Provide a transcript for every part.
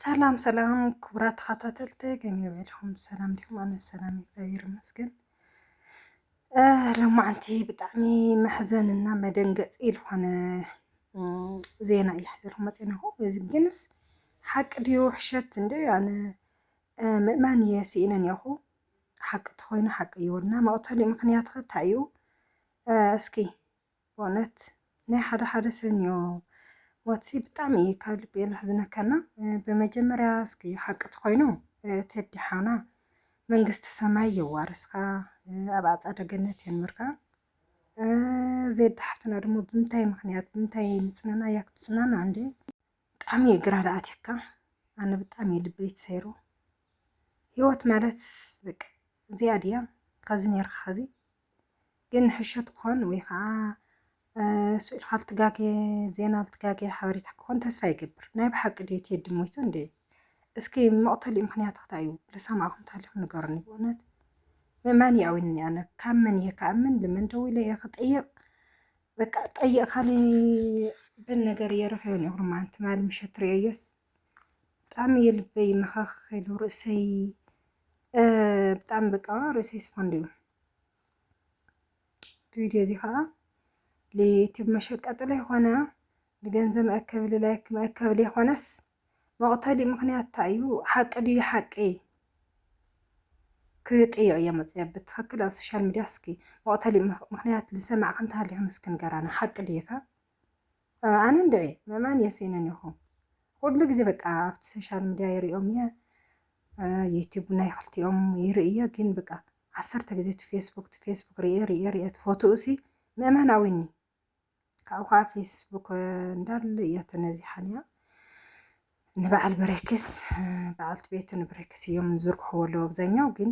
ሰላም ሰላም ክቡራት ተኸታተልቲ ከመይ ውዒልኩም ሰላም ዲኹም? ኣነ ሰላም እግዚኣብሔር ይመስገን። ሎማዓንቲ ብጣዕሚ መሕዘንና መደንገፂ ዝኾነ ዜና እዩ ሓዘልኩም መፂናኹ እዚ ግንስ ሓቂ ድዩ ውሕሸት እንደ ኣነ ምእማን እየ ስኢነ እኒኹ ሓቂ ተኾይኑ ሓቂ እዩወልና መቕተሊ ምክንያት ኸ እንታይ እዩ እስኪ በእውነት ናይ ሓደ ሓደ ሰብ ኒኦ ሞትሲ ብጣዕሚ እዩ ካብ ልቢ እዩ ለሕዝነካና ብመጀመርያ እስኪ ሓቂ ተኮይኑ ቴዲ ሓውና መንግስቲ ሰማይ የዋርስካ ኣብ ኣፀደ ገነት የንብርካ ዜድ ሓፍትና ድማ ብምንታይ ምክንያት ብምንታይ ምፅናና እያ ክትፅናና እንዴ ብጣዕሚ እዩ ግራ ዳኣትካ ኣነ ብጣዕሚ እዩ ልበይ ተሰይሩ ህይወት ማለት በቃ እዚኣ ድያ ከዚ ነርካ ከዚ ግን ንሕሾት ክኾን ወይ ኸኣ ስእልካ ልትጋጌ ዜና ልትጋጌ ሓበሬታ ክኾን ተስፋ ይገብር ናይ ብሓቂ ድዩ ቴዲ ሞይቱ እንዴ እስኪ መቕተሊኡ ምኽንያት ክታይ እዩ ልሰማዕኹም ተሃሊኹም ንገሩኒ ብእውነት ምእማን ይኣዊኒ ኣነ ካብ መን እየ ክኣምን ልመን ደዊለ እየ ክጥይቕ በቃ ጠይቕካሊ በል ነገር እየ ረኺበን እየ ኩርማን ትማሊ ምሸት ርእየዮስ ብጣዕሚ እዩ ልበይ መኸኽ ኢሉ ርእሰይ ብጣዕሚ በቃ ርእሰይ ስፖንድ እዩ እቲ ቪድዮ እዚ ከዓ ልዩቲብ መሸቀጢ ለይኾነ ንገንዘብ መእከቢ ልላይክ መእከቢ ለይኾነስ መቕተሊ ምኽንያት እንታይ እዩ ሓቂ ድዩ ሓቂ ክጥይቕ እየ መፅኦ ብትኽክል ኣብ ሶሻል ሚድያ እስኪ መቕተሊ ምኽንያት ዝሰማዕክ እንተሃሊኹም እስኪ ንገራና ሓቂ ድዩኸ ኣነ እንድዒ ምእማን የሲኑኒ እኹ ኩሉ ግዜ በቃ ኣብቲ ሶሻል ምድያ ይሪኦም እየ ዩቱብ ናይ ክልቲኦም ይርኢ እየ ግን በቃ ዓሰርተ ግዜ እቲ ፌስቡክ እቲ ፌስቡክ ሪኤ ሪኤ ሪኤ እቲ ፎቶኡ ሲ ምእማን ኣዊኒ ካብኡ ከዓ ፌስቡክ እንዳለ እያ ተነዚሓን እያ ንበዓል ብሬክስ በዓልቲ ቤቱ ንብሬክስ እዮም ዝዝርግሕዎ ኣለዉ ኣብዛኛው ግን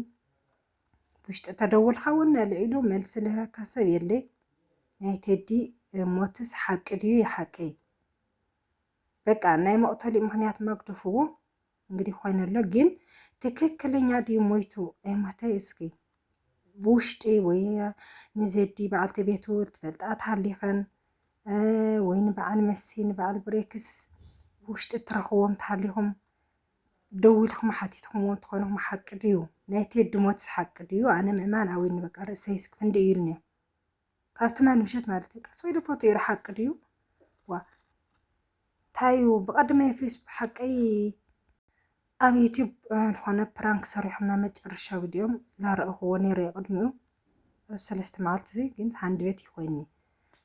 ብውሽጢ ተደውልካ እውን ኣልዒሉ መልሲ ልህበካ ሰብ የለይ ናይ ቴዲ ሞትስ ሓቂ ድዩ ይሓቂ በቃ ናይ መቕተሊ ምክንያት መግድፍዎ እንግዲህ ኮይኑ ኣሎ ግን ትክክለኛ ድዩ ሞይቱ ኣይሞተ እስኪ ብውሽጢ ወይ ንዘዲ በዓልቲ ቤቱ ትፈልጣ ትሃሊኸን ወይ ንበዓል መሲ ንበዓል ብሬክስ ብውሽጢ እትረኽዎም ትሃሊኹም ደው ኢልኩም ሓቲትኩምዎ እንተኾንኩም ሓቂ ድዩ? ናይ ቴዲ ሞትስ ሓቂ ድዩ? ኣነ ምእማን ኣውዩኒ በቃ ርእሰይስ ፍንድእ ኢሉኒ ካብ ትማሊ ምሸት ማለት እዩ ቀስ ኢሉ ፎቶ ይሩ ሓቂ ድዩ? ዋእ ታዩ ብቀደመ ፌስቡክ ሓቀይ ኣብ ዩቱብ ዝኾነ ፕራንክ ሰሪሖም ናይ መጨረሻ ቪድዮም ላረእኹዎ ነይረ ቅድሚኡ ኣብ ሰለስተ መዓልቲ እዚ ግን ሃንድበት እዩ ኮይኒ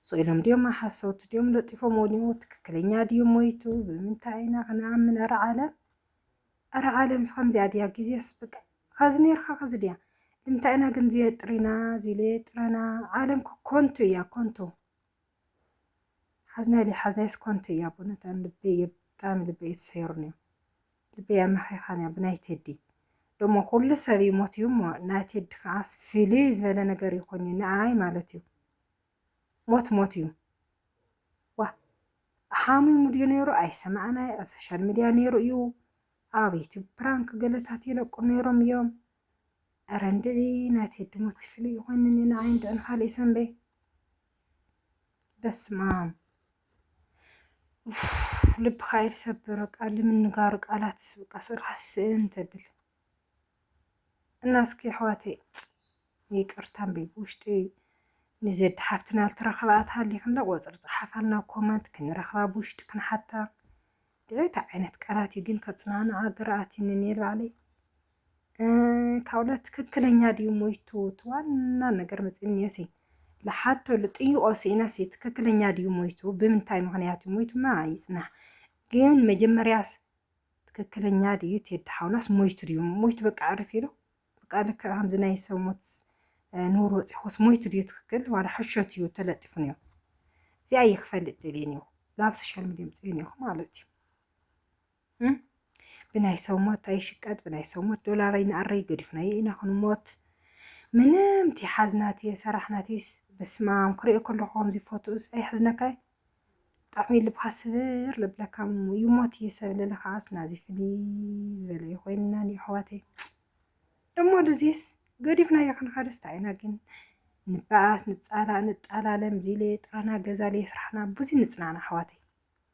ሶ ኢሎም ድዮም ሓሰውቲ ድዮም ለጢፎም ወሊሞ ትክክለኛ ድዩ ሞይቱ ብምንታይ ኢና ክንኣምን ኣረ ዓለም ኣረ ዓለም ስከምዚኣ ድያ ግዜስ ብቃ ኸዚ ነርካ ኸዚ ድያ ልምንታይ ኢና ግን ዝየጥሪና ዝሌጥረና ዓለም ኮንቱ እያ ኮንቱ ሓዝናይ ለይሓዝናይስ ኮንቱ እያ በእውነት ኣነ ልበይ እየ ብጣዕሚ ልበይ እዩ ተሰይሩኒ ልበይ ኣመኺኻን እያ ብናይ ቴዲ ደሞ ኩሉ ሰብ እዩ ሞትዩ እሞ ናይ ቴዲ ከዓስ ፍልይ ዝበለ ነገር እዩ ኮይኑ ንኣይ ማለት እዩ ሞት ሞት እዩ ዋ ሓሚሙ ድዩ ነይሩ ኣይሰማዕናይ ኣብ ሶሻል ሚድያ ነይሩ እዩ ኣብ ዩቱብ ፕራንክ ገለታት ይለቁ ነይሮም እዮም ኧረ እንድዒ ናይ ቴዲ ሞት ሲፍሊ ይኾንን እዩ ንዓይ እንድዒ ንኻልእይ ሰንበይ በስማም ልብኻ እዩ ዝሰብር በቃ ልምንጋሩ ቃላት በቃ ሱርካ ስእን ተብል እና እስኪ ኣሕዋተይ ይቅርታ እምቢ ብውሽጢ ንዘድ ሓፍትና ልትረኸባ ኣትሃሊኽንለ ቆፅሪ ፀሓፋልና ኮመንት ክንረኽባ ብውሽጢ ክንሓታ ድዒታ ዓይነት ቃላት እዩ ግን ከፅናንዓ ግርኣት እዩ ንኔል ባዕለይ ካብኡለ ትክክለኛ ድዩ ሞይቱ እቲ ዋና ነገር መፅንዮ ሲ ልሓቶ ልጥይቆ ስኢነ ሲ ትክክለኛ ድዩ ሞይቱ ብምንታይ ምክንያት እዩ ሞይቱማ ይፅናሕ ግን መጀመርያስ ትክክለኛ ድዩ ቴዲ ሓውናስ ሞይቱ ድዩ ሞይቱ በቃ ዕርፍ ኢሉ በቃ ልክ ከምዚ ናይ ሰብ ሞት ንውር በፂሑስ ሞይቱ ድዩ ትክክል ዋላ ሕሾት እዩ ተለጢፉ ነዮ እዚኣ ይክፈልጥ ደልየ ነዮ ናብ ሶሻል ሚዲያ ምፅዮ ነዮኹ ማለት እዩ ብናይ ሰው ሞት ኣይሽቀጥ፣ ብናይ ሰው ሞት ዶላር ኣይንኣረይ፣ ገዲፍናዮ ኢና ክንሞት ምንም ተይሓዝናትየ ሰራሕናትይስ በስማም ክሪኦ ከለኹ ከምዚ ፎቶኡስ ኣይሕዝነካይ ብጣዕሚ ልብኻ ስብር ለብለካ እሞ ይሞት እየ ሰብ ልለ ከዓስ ናዚ ፍልይ ዝበለ እዩ ኮይንና ኣሕዋተይ ደሞ ድዚስ ገዲፍናዮ ክንኸድስ እንታይ ኢና ግን ንበኣስ ንፃላእ ንጣላለም ዚለ ጥራና ገዛለ ስራሕና ብዙ ንፅናዕና ኣሕዋተይ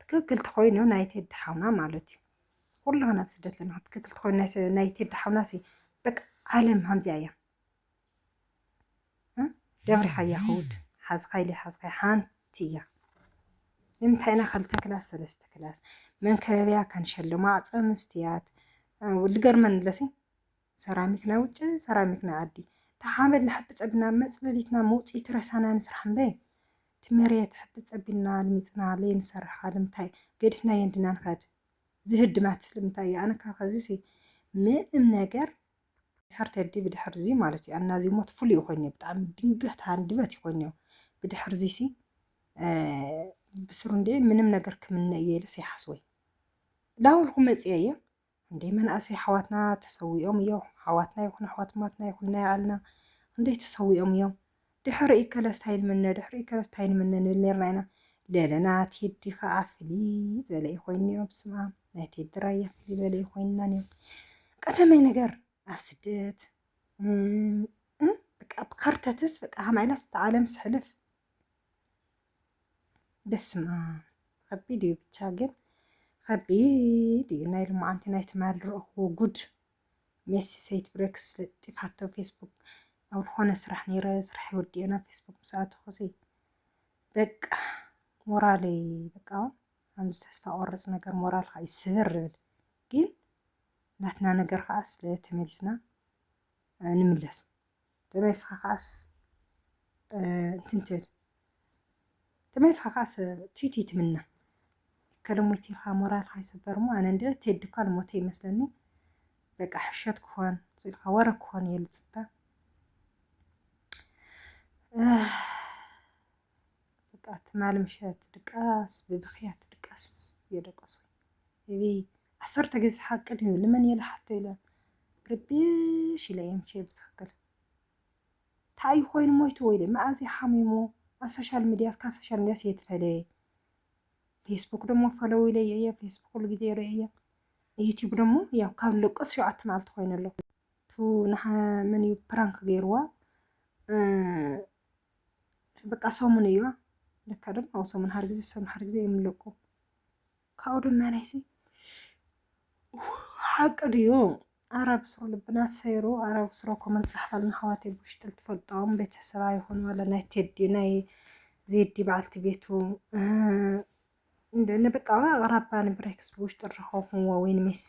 ትክክል ተኮይኑ ናይ ቴዲ ሓውና ማለት እዩ ኩላና ኣብ ስደት ለና ትክክል ተኮይኑ ናይ ቴዲ ሓውና ሲ በቃ ዓለም ሃምዚኣ እያ ደብሪሓያ ክውድ ሓዝካይሊ ሓዝካይ ሓንቲ እያ ንምንታይ ኢና ክልተ ክላስ ሰለስተ ክላስ መንከበቢያ ከንሸልማ ኣዕፀ ምስትያት ልገርመን ለሲ ሰራሚክ ናይ ውጭ ሰራሚክ ናይ ዓዲ ተሓመድ ንሓብፀ ብና መፅለሊትና መውፅኢት ረሳና ንስራሕ እምበይ እቲ መሬት ሕቢ ጸቢና ኣልሚጽና ለይንሰርሓ ልምታይ ገዲፍናዮ እንዲና ንከድ ዝህድማት ስለምንታይ እዩ ኣነ ካብ ኸዚሲ ምንም ነገር ድሕር ቴዲ ብድሕር እዚ ማለት እዩ ኣና እዚ ሞት ፍሉይ ኮይኑ ብጣዕሚ ድንገት ሃንድበት ይኮን እዩ ብድሕር እዚሲ ብስሩ እንዴ ምንም ነገር ክምነ እየ ኢለስ ይሓስወይ ላውልኩ መጽየ እየ ክንደይ መናእሰይ ኣሕዋትና ተሰዊኦም እዮ ኣሕዋትና ይኩን ኣሕዋትማትና ይኩን ናይ ኣልና ክንደይ ተሰዊኦም እዮም ድሕሪ እከለስ ታይ ንምነ ድሕሪ እከለስ ታይ ንምነ ንብል ነርና ኢና ለለና ቴዲ ከዓ ፍልይ ዝበለ እዩ ኮይንዮ ብስምኣም ናይ ቴዲ ራያ ፍልይ ዝበለ እዩ ኮይንና ነይሩ ቀደመይ ነገር ኣብ ስደት እም፣ እም፣ በቃ ብካርተትስ በቃ ሃማይላስ ተዓለም ስሕልፍ በስማም ከቢድ እዩ ብቻ ግን ከቢድ እዩ ናይ ልማዓንቲ ናይ ትማል ረእኽዎ ጉድ ሜሲ ሰይት ብሬክስ ጢፋቶ ፌስቡክ ኣብ ዝኾነ ስራሕ ነይረ ስራሕ ወዲኤ ናብ ፌስቡክ ምስ ኣተኹሲ በቃ ሞራለይ በቃ ከምዚ ተስፋ ቆርፅ ነገር ሞራልካ ይስብር ይብል ግን ናትና ነገር ከዓ ስለ ተመሊስና ንምለስ ተመሊስኻ ከኣስ እንትን ትብል ተመሊስኻ ከኣስ ትዩትይ ትምና ከለሞይቲ ኢልካ ሞራልካ ይስበር እሞ ኣነ እንደ ቴዲ እኳ ልሞተ ይመስለኒ በቃ ሕሸት ክኾን ስኢልካ ወረ ክኾን እየ ልፅበ በቃ ትማሊ ምሸት ድቃስ ብብኽያት ድቃስ እየ ደቀስኩ እቢ ዓሰርተ ግዜ ሓቂ ድዩ ልመን እየ ልሓቶ ኢለ ርብሽ ኢለ እየ ምቸ ብትኽክል እንታይ እዩ ኮይኑ ሞይቱ ወይ መኣዝ እዩ ሓሚሙ ኣብ ሶሻል ሚዲያስ ካብ ሶሻል ሚዲያስ እየ ትፈለየ ፌስቡክ ደሞ ፈለው ኢለ እየ ፌስቡክ ኩሉ ግዜ ይርኢ እየ ዩቲዩብ ደሞ ያው ካብ ልቅስ ሸውዓተ መዓልቲ ኮይኑ ኣሎ ቱ መን እዩ ፕራንክ ገይርዋ በቃ ሰሙን እዩ ለካ ድማ ኣብ ሰሙን ሓደ ግዜ ሰሙን ሓደ ግዜ እዮም ለቁ ካብኡ ድማ ናይዚ ሓቂ ድዩ ኣራብ ስሮ ልብና ሰይሩ ኣራብ ስሮ ኮመን ጻሕፋልና ኣሕዋት ብውሽጥል ትፈልጦም ቤተሰብ ኣይኾኑ ዋላ ናይ ቴዲ ናይ ዜዲ በዓልቲ ቤቱ ንበቃ ኣቅራባ ንብሬክስ ብውሽጢ ረኸኹምዎ ወይ ንሜሲ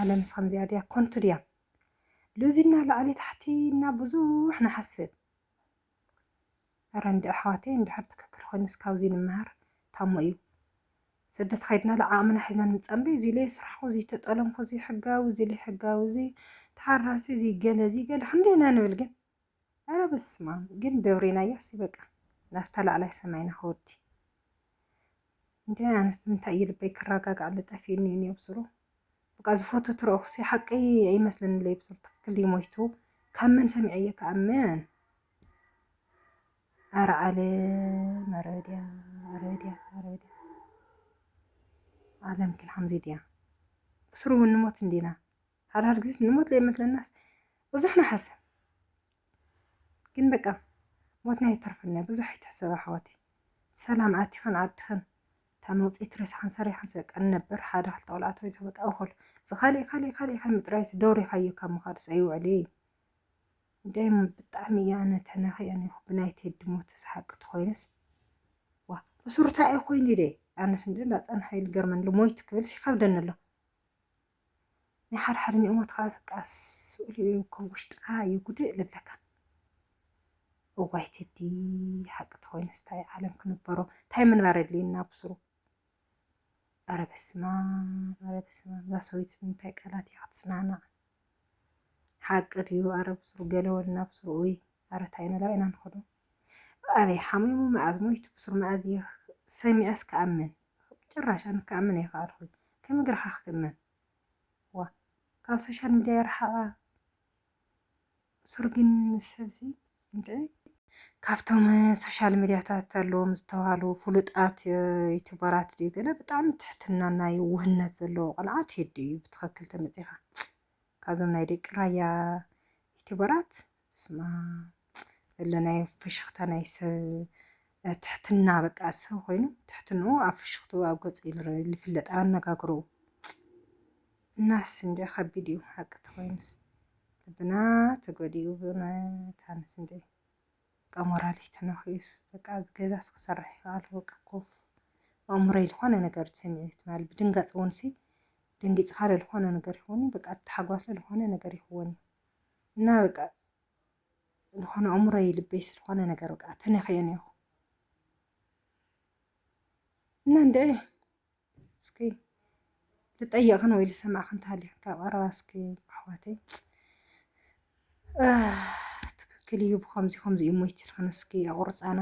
ዓለምስ ከምዚኣ ድያ ኮንቱ ድያ ሉዚና ላዕሊ ታሕቲ ኢልና ብዙሕ ንሓስብ እረ እንድዒ ኣሕዋተይ እንድሕር ትክክል ኮይኑስ ካብዚ ንመሃር ታሞ እዩ ስደት ከይድናሉ ዓቕምና ሒዝና ንምፀንበይ እዚ ኢለ ስራሕኩ እዚ ተጠለምኩ እዚ ሕጋዊ እዚ ዘይሕጋዊ እዚ ተሓራሲ እዚ ገለ እዚ ገለ ክንደይ ኢና ንብል ግን ኣረ በስማም ግን ደብሬናያሲ በቃ ናብታ ላዕላይ ሰማይና ከወዲ እንዲ ኣነስ ብምንታይ እዩ ልበይ ክረጋጋዕለ ጠፊኡኒ እዩ ብስሩ በቃ ዝፈቱ ትረእኹሲ ሓቂ ኣይመስለኒ ለይ ብስሩ ትክክል እዩ ሞይቱ ካብ መን ሰሚዐ እየ ካብ መን ኣረ ዓለም ኣረ ድያ ኣረ ድያ ኣረ ድያ ዓለም ግን ሓምዚ ድያ ብስሩ እውን ንሞት እንዲና ሓድሓድ ግዜ ንሞት ዘይመስለናስ ብዙሕ ንሓስብ ግን በቃ ሞትና ይተርፈና ብዙሕ ኣይትሕሰብ ኣሕዋተይ ሰላም ኣቲኸን ዓድኸን እታ መውፅኢት ሬሳኻን ሰሪሓን በቃ ነበር ሓደ ክልተ ቆልዓ ተወይቶ በቃ እኹል እዚ ካሊእ ካሊእ ካሊእ ከም ጥራይስ ደውሪኻዮ ካብ ምኻድስ ኣይውዕል እየ ደም ብጣዕሚ እያ ኣነ ተናኺያ ኒኹ ብናይ ቴዲ ሞት ስሓቂ ትኾይንስ ዋ እሱርታ እየ ኮይኑ ደ ኣነስ እንዲ እንዳፀንሐ ኢሉ ገርመን ሞይት ክብልስ ይኸብደኒ ኣሎ ናይ ሓደ ሓደ ንእሞት ከዓ ስቃ ስእሉ እዩ ከም ውሽጥካ እዩ ጉድእ ልብለካ እዋይ ቴዲ ሓቂ ተኮይኑ ስታይ ዓለም ክንበሮ እንታይ ምንባር የድልየና ብስሩ ኣረ በስማ ኣረ በስማ እዛ ሰበይቲ ምንታይ ቃላት እያ ክትጽናናዕ ሓቂ ድዩ ኣረ ብስሩ ገለወልና ብስሩ ወይ ኣረ እንታይ ኢና ናብ ኢና ንኸዶ ኣበይ ሓሚሙ መኣዝ ሞይቱ ብሱር መኣዝ እየ ሰሚዐስ ክኣምን ጭራሽ ኣነ ክኣምን ኣይከኣልኩን ከመይ ገርካ ክትእመን ዋእ ካብ ሶሻል ሚድያ ይርሓቃ ብሱር ግን ሰብሲ እንታይ ካብቶም ሶሻል ሚድያታት ኣለዎም ዝተባሃሉ ፍሉጣት ዩቱበራት ድዩ ገለ ብጣዕሚ ትሕትና ናይ ውህነት ዘለዎ ቆልዓ ቴዲ እዩ ብትክክል ተመፂካ ካብዞም ናይ ደቂ ራያ ዩቲበራት ስማ ዘሎ ናይ ፍሽኽታ ናይ ሰብ ትሕትና በቃ ሰብ ኮይኑ ትሕትንኡ ኣብ ፍሽኽትኡ ኣብ ገጹ ዝፍለጥ ኣብ ኣነጋግርኡ እናስ እንዲ ከቢድ እዩ ሓቂ ተኮይኑስ ልብና ተጎዲኡ ብእውነት ኣነስ እንዲ በቃ ሞራለይ ተነኺኡስ በቃ እዚ ገዛስ ክሰርሕ ኢዩ ኣሉ በቃ ኮፍ ኣእምሮይ ዝኾነ ነገር ተሰሚዑኒ ትማሊ ብድንጋጸ እውንሲ ደንጊጽካ ለልኾነ ነገር ይኹን በቃ ተሓጓስ ለልኾነ ነገር ይኹን እና በቃ ዝኾነ ኣእምሮይ ልበይ ስለኾነ ነገር በቃ ተነኺኦ ነይኹ እና እንድዒ እስኪ ልጠየቕክን ወይ ልሰማዕክን ተሃሊኽን ካብ ቀረባ እስኪ ኣሕዋተይ ትክክል እዩ ብከምዚ ከምዚ እዩ ሞይት ኢልክን እስኪ ኣቑርፃና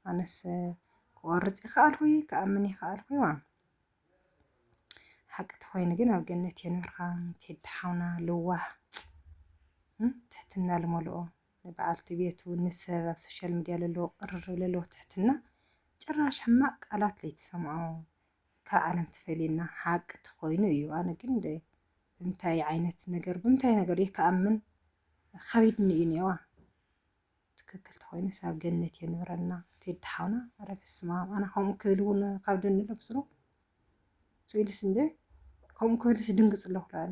ኣነስ ክቆርፅ ይኸኣልኩ ክኣምን ይኸኣልኩ ዋም ሓቂ ተኮይኑ ግን ኣብ ገነት የንብርካ ቴዲ ሓውና ልዋህ ትሕትና ልመልኦ ንበዓልቲ ቤቱ ንሰብ ኣብ ሶሻል ሚድያ ለለዎ ቅርርብ ለለዎ ትሕትና ጭራሽ ሕማቅ ቃላት ለይትሰምዖ ካብ ዓለም ትፈልየና ሓቂ ተኮይኑ እዩ ኣነ ግን ብምታይ ዓይነት ነገር ብምታይ ነገር እየ ክኣምን ከቢድኒ እዩ ኔዋ ትክክል ተኮይነስ ኣብ ገነት የንብረና ቴዲ ሓውና ኧረ በስማም ኣነ ከምኡ ክብል እውን ካብ ደኒ ለብስሮ ስኢልስ እንደ ከምኡ ክብልስ ድንግፅ ኣለኩ ኣነ